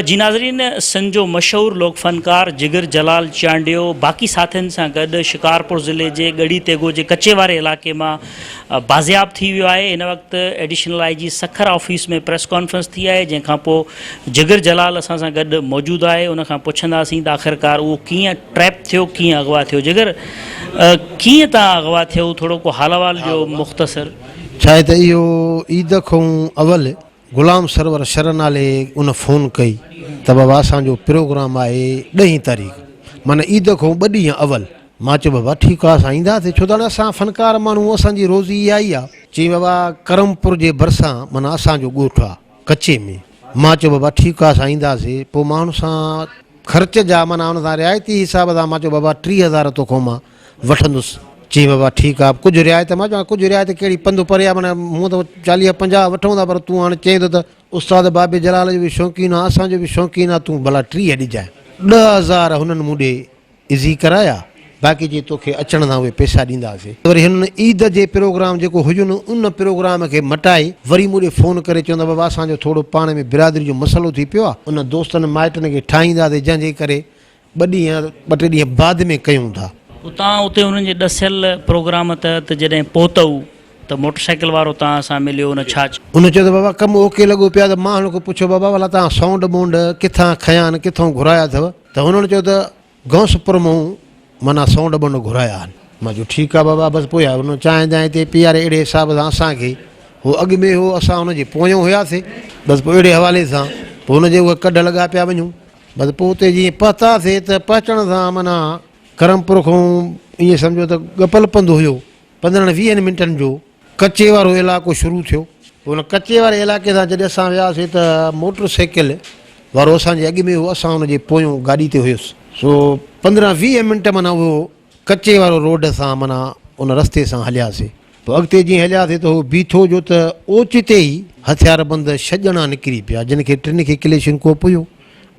جي ناظرين سنڌ جو مشهور لوڪ فنڪار جگر جلال چانڊيو باقي ساٿين سان گڏ شڪارپور ضلعي جي ڳڙهي تيغو جي ڪچي واري علائقي مان بازياب ٿي ويو آهي هن وقت additional I G Sukkur office ۾ press conference ٿي آهي جنهن کانپو جگر جلال اسان سان گڏ موجود آهي ان کان پڇنداسين ته آخرڪار اهو ڪيئن ٽريپ ٿيو ڪيئن اغوا ٿيو جگر ڪيئن تان اغوا ٿيو ٿورو ڪو حال احوال جو مختصر ڇا هي ته اهو عيد کان اول غلام سرور شر نالي ان فون ڪئي ته بابا اسان جو پروگرام آهي ڏهين تاريخ معنيٰ عيد کان ٻه ڏينهن اول مان چيو بابا ٺيڪ آهي اسان اينداسي ڇو ته اسان فنڪار ماڻهو اسان جي روزي اها ئي آهي چي بابا ڪرم پور جي ڀرسان معنيٰ اسان جو ڳوٺ آهي ڪچي ۾ مان چيو بابا ٺيڪ آهي اسان اينداسي پوء مان ان سان خرچ جا معنيٰ ان سان رعايتي حساب سان مان چيو بابا ٽيهه هزار توکان مان وٺندس. چيم بابا ٺيڪ آ ڪجهه رعايت مان چوان ڪجهه رعايت ڪهڙي پنڌ پري آ معنيٰ مون ته چاليهه پنجاهه وٺون ٿا پر تون هاڻ چئين ٿو ته استاد بابي جلال جو به شوقين آ اسان جو به شوقين آ تون ڀلا ٽيهه ڏجانء ڏهه هزار هنن مون ڏي عزي ڪرايا باقي چي توکي اچڻ سان اهي پئسا ڏينداسي وري هنن عيد جي پروگرام جيڪو هجن ان پروگرام کي مٽائي وري مون ڏي فون ڪري چون ٿا بابا اسان جو ٿورو پاڻ ۾ برادري جو مسئلو ٿي پيو آ ان دوستن مائٽن کي ٺاهينداسي جنهن جي ڪري ٻه ڏينهن يا ٻه ٽي ڏينهن بعد ۾ ڪيون ٿا. اتان اتي هنن جي ڏسيل پروگرام تحت جڏهن پهتؤ ته موٽرسائيڪل وارو توهان سان مليو هن ڇا چيو؟ هن چيو ته بابا ڪم اوڪي لڳو پيو آهي ته مان هن کان پڇيو بابا ڀلا توهان سونڊ ٻونڊ ڪٿان کنيا آهن ڪٿئون گهرايا اٿو ته هنن چيو ته غوثپور مئون معنيٰ سونڊ ٻونڊ گهرايا آهن. مان چيو ٺيڪ آهي بابا بس پويان هن چانهه جانهه تي پيئاري اهڙي حساب سان اسان کي هو اڳ ۾ هو اسان هن جي پويان هياسي بس پوء اهڙي حوالي سان پوء هن جي اهي ڪڍ لڳا پيا وڃون. بس پوء اتي جيئن پهتاسين ته پهچڻ سان معنيٰ ڪرم پور کان ائين سمجهو ته ڳپل پنڌ هيو، پندرهن ويهن منٽن جو ڪچي وارو علائقو شروع ٿيو. پوء ان ڪچي واري علائقي سان جڏهن اسان وياسين ته موٽر سائيڪل وارو اسان جي اڳ ۾ هو، اسان ان جي پويون گاڏي تي هيس. سو پندرهن ويهه منٽ معنيٰ اهو. ڪچي وارو روڊ سان معنيٰ ان رستي سان هلياسي. پوء اڳتي جيئن هلياسي ته هو بيٺو جو ته اوچتي ئي هٿياربند ڇهه ڄڻا نڪري پيا جن کي ٽن کي ڪليشن ڪوپ هيو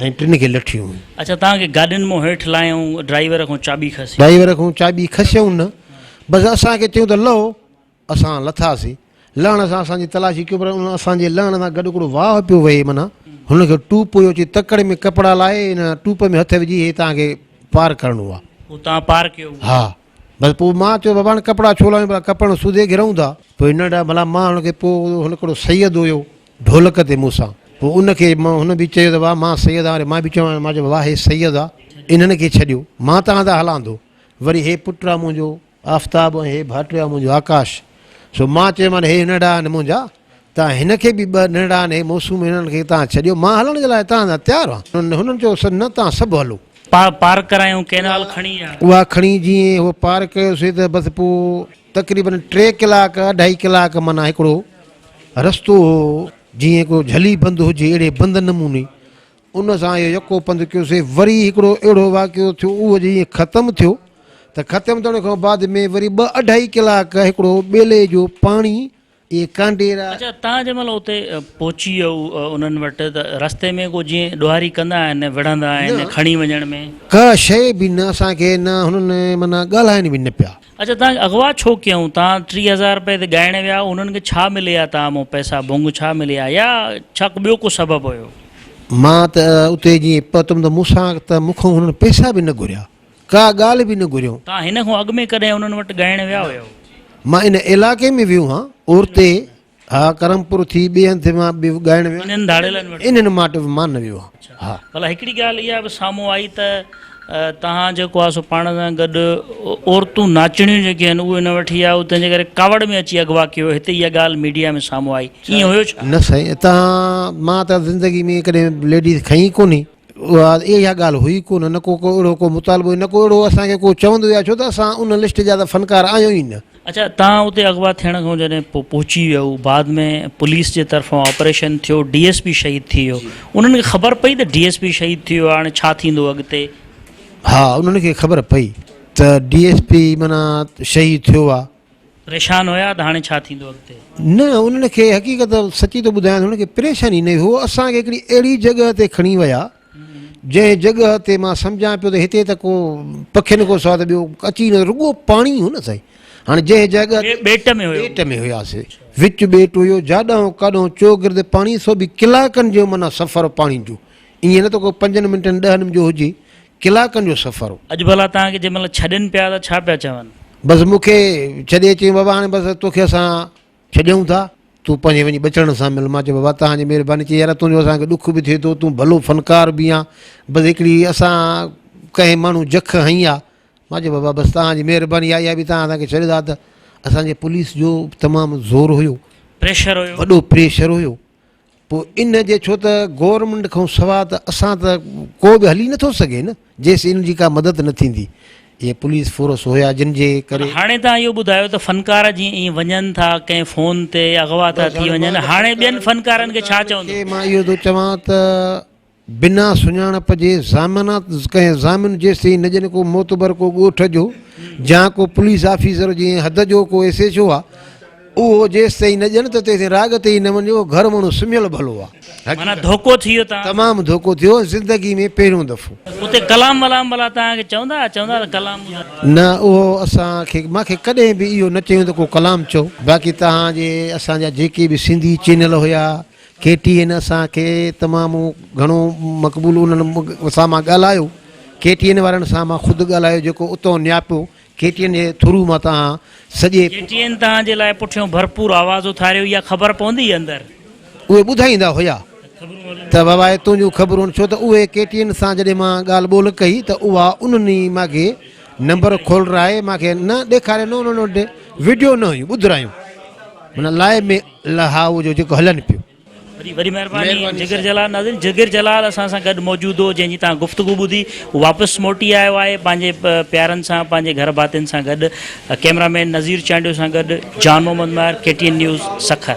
۽ ٽن کي لٺيون هيون. اچا توهان کي گاڏين مون هيٺ لاهيائون ڊرائيور کان چاٻي کسي. ڊرائيور کان چاٻي کسيائون نه بس اسان کي چيون ته لهو. اسان لٿاسين. لهڻ سان اسان جي تلاشي ڪيو پر ان اسان جي لهڻ سان گڏ هڪڙو واهه پيو وهي منا هن کي ٽوپ هيو چي تڪڙ ۾ ڪپڙا لائي ان ٽوپ ۾ هٿ وجهي هي توهان کي پار ڪرڻو آ. هو توهان پار ڪيو هو. ها بس پوء مان چيو بابا هاڻي ڪپڙا ڇو لاهيون ڀلا ڪپڙن سوڌي گهرون ٿا. پوء هن ڏا ڀلا مان هن کي پوء هن هڪڙو سيد هيو ڍولڪ تي مون سان پوء ان کي مان هن به چيو ته واهه مان سيد آهيان وري مان به چيو مان چيو واهه هي سيد آ انهن کي ڇڏيو مان توهان سان هلان ٿو وري هي پٽ آ منهنجو آفتاب ۽ هي ڀاٽيو آهي منهنجو آڪاش. سو مان چيومان هي ننڍڙا آهن منهنجا، تان هن کي به ٻه ننڍڙا آهن هي موسوم هنن کي تان ڇڏيو مان هلڻ جي لاء تان سان تيار هان. هنن چيو سر نه تان سڀ هلو. پار پار ڪرايون ڪينال کڻي يا. اها کڻي جيئن هو پار ڪيو سي ته بس پو تقريبن ٽي ڪلاڪ اڍائي ڪلاڪ معنيٰ هڪڙو رستو هو جيئن ڪو جھلي بند هجي اهڙي بند نموني ان سان اهو يڪو پنڌ ڪيو سي وري هڪڙو اهڙو واقعو ٿيو اهو جيئن ختم ٿيو ته ختم ٿيڻ کان بعد ۾ وري ٻه اڍائي ڪلاڪ هڪڙو ٻيلي جو پاڻي اهي ڪانڊيرا اچا تان جنهن مهل اتي پهچي ويو انهن وٽ ته رستي ۾ ڪو جيئن ڏوهاري ڪندا آهن وڙهندا آهن کڻي وڃڻ ۾. ڪا شيء به نه اسان کي نه هنن معنيٰ ڳالهائن به نه پيا. اڇا توهان کي اغوا ڇو ڪيائون توهان ٽيهه هزار روپيه تي ڳائڻ ويا هئا انهن کي ڇا ملي ها توهان مون پئسا ڀونگ ڇا ملي ها يا ڇا ڪو ٻيو ڪو سبب هيو. مان ته اتي جي پهتم ته مون سان ته مون کان هنن پئسا به نه گهريا ڪا ڳالهه به نه گهريائون. توهان هن کان اڳ ۾ ڪڏهن انهن وٽ ڳائڻ ويا نه هيو. مان ان علائقي ۾ ويو هان اورتي. ها ڪرم پور ٿي ٻئي هنڌ مان به ڳائڻ ويو انهن ڌاڙيلن وٽ انهن ماٽ به مان نه ويو آهيان ها ڀلا هڪڙي ڳالهه اها به سامهون آئي ته توهان جيڪو آهي سو پاڻ سان گڏ عورتون ناچڻيون جيڪي آهن اهي نه وٺي آيو تنهن جي ڪري ڪاوڙ ۾ اچي اغوا ڪيو هتي اها ڳالهه ميڊيا ۾ سامهون آئي ائين هيو ڇا نه سائين اتان مان ته زندگي ۾ ڪڏهن ليڊيز کئي ڪونهي اها اها ڳالهه هئي ڪو نه، نه ڪو ڪو اهڙو ڪو مطالبو نه ڪو اهڙو اسان کي ڪو چوندو يا ڇو ته اسان ان لسٽ جا ته فنڪار آهيون ئي نه. اڇا توهان اتي اغوا ٿيڻ کان جڏهن پوء پهچي ويو بعد ۾ پوليس جي طرفان آپريشن ٿيو ڊي ايس پي شهيد ٿي ويو انهن کي خبر پئي ته ڊي ايس پي شهيد ٿي ويو آهي هاڻي ڇا ٿيندو اڳتي؟ ها انهن کي خبر پئي ته ڊي ايس پي معنيٰ شهيد ٿيو آهي. پريشان هيا ته هاڻي ڇا ٿيندو اڳتي؟ نه انهن کي حقيقت سچي ٿو ٻڌايان انهن کي پريشاني نه هئي هو اسان کي هڪڙي اهڙي جڳهه تي کڻي ويا جنهن جڳهه تي مان سمجهان پيو ته هتي ته ڪو پکين کان سواء ته ٻيو اچي نه رڳو پاڻي هو نه سائين هاڻي جنهن جڳهه تي ٻيٽ ۾ هيو ٻيٽ ۾ هياسي وچ ٻيٽ هيو جاڏانهن ڪاڏانهن چوگرد پاڻي سو به ڪلاڪن جو معنيٰ سفر پاڻي جو ائين نه ته ڪو پنجن منٽن ڏهن جو هجي ڪلاڪن جو سفر هو. اڄ ڀلا توهان کي جنهن مهل ڇڏين پيا ته ڇا پيا چون؟ بس مون کي ڇڏي چيائين، بابا هاڻي بس توکي اسان ڇڏيون ٿا، تون پنهنجي وڃي ٻچڙن سان مل. مان چيو، بابا توهان جي مهرباني. چيائين، يار تنهنجو اسان کي ڏک به ٿئي ٿو، تون ڀلو فنڪار به آن، بس هڪڙي اسان ڪنهن ماڻهو جک هنئي آ. مان چيو، بابا بس توهان جي مهرباني آ، اها به توهان اسان کي ڇڏيو ٿا ته. اسان جي پوليس جو تمام زور هيو. پريشر هيو. وڏو پريشر هيو. پوء ان جي ڇو ته گورنمينٽ کان سوا ته اسان ته ڪو به هلي نٿو سگهي نه جيس ان جي ڪا مدد نه ٿيندي اهي پوليس فورس هيا جن جي ڪري هاڻي تان اهو ٻڌايو ته فنڪار جي ائين وڃن ٿا ڪنهن فون تي اغوا ٿا ٿي وڃن هاڻي ٻين فنڪارن کي ڇا چوندو مان اهو ٿو چوان ته بنا سڃاڻپ جي ضامنه ڪنهن ضامن جيستائين نه ڄڻ ڪو معتبر ڪو ڳوٺ جو جا ڪو پوليس آفيسر جي ۽ حد جو ڪو ايس ايڇ او آ اهو جيستائين نه ڄڻ ته تيستائين راڳ تي ئي نه وڃ اهو گهر مڻو سمهيل ڀلو آ معنيٰ ڌوڪو ٿي ويو تان تمام ڌوڪو ٿيو زندگي ۾ پهريون دفعو. اتي ڪلام ولام ڀلا توهان کي چوندا ها چوندا ته ڪلام ٻڌايو. نه اهو اسان کي مان کي ڪڏهن به اهو نه چيون ته ڪو ڪلام چئو باقي توهان جي اسان جا جيڪي به سنڌي چينل هيا. ڪي ٽي اين اسان کي تمام گهڻو مقبول انهن اسان مان ڳالهايو ڪي ٽي اين وارن سان مان خود ڳالهايو جيڪو اتو نياپو ڪي ٽي اين جي ٿرو مان تهان سڄي ڪي ٽي اين تهان جي لاء پٺيون ڀرپور آواز اٿاريو اها خبر پوندي اندر. اهي ٻڌائيندا هيا ته بابا اهي تنهنجون خبرون ڇو ته اهي ڪي ٽي اين سان جڏهن مان ڳالهه ٻولهه ڪئي ته اها انهن ئي مان کي نمبر کولرائي مان کي نه ڏيکاري نه انهن وٽ وڊيو نه هيون ٻڌرايون معنيٰ لائيو ۾ لهائو جو جيڪو هلن پيو. وڏي وڏي مهرباني جگر جلال ناظرين جگر جلال اسان سان گڏ موجود هو جنهن جي توهان گفتگو ٻڌي هو واپس موٽي آيو آهي پنهنجي پيارن سان پنهنجي گهر ڀاتين سان گڏ ڪيمرا مين نظير چانڊيو سان گڏ Jan Muhammad Mahar K T N news Sukkur.